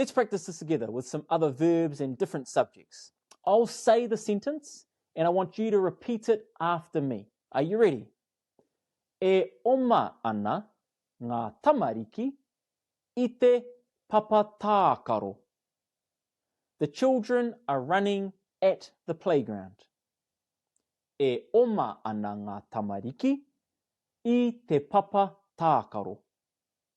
Let's practice this together with some other verbs and different subjects. I'll say the sentence and I want you to repeat it after me. Are you ready? E oma ana ngā tamariki i te papa tākaro. The children are running at the playground. E oma ana ngā tamariki i te papa tākaro.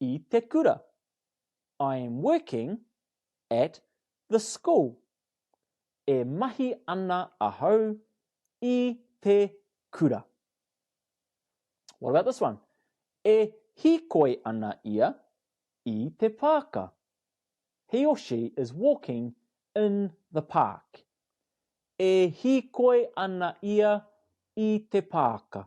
i te kura. I am working at the school. E mahi ana ahau i te kura. What about this one? E hīkoi ana ia i te pāka. He or she is walking in the park. E hīkoi ana ia i te pāka.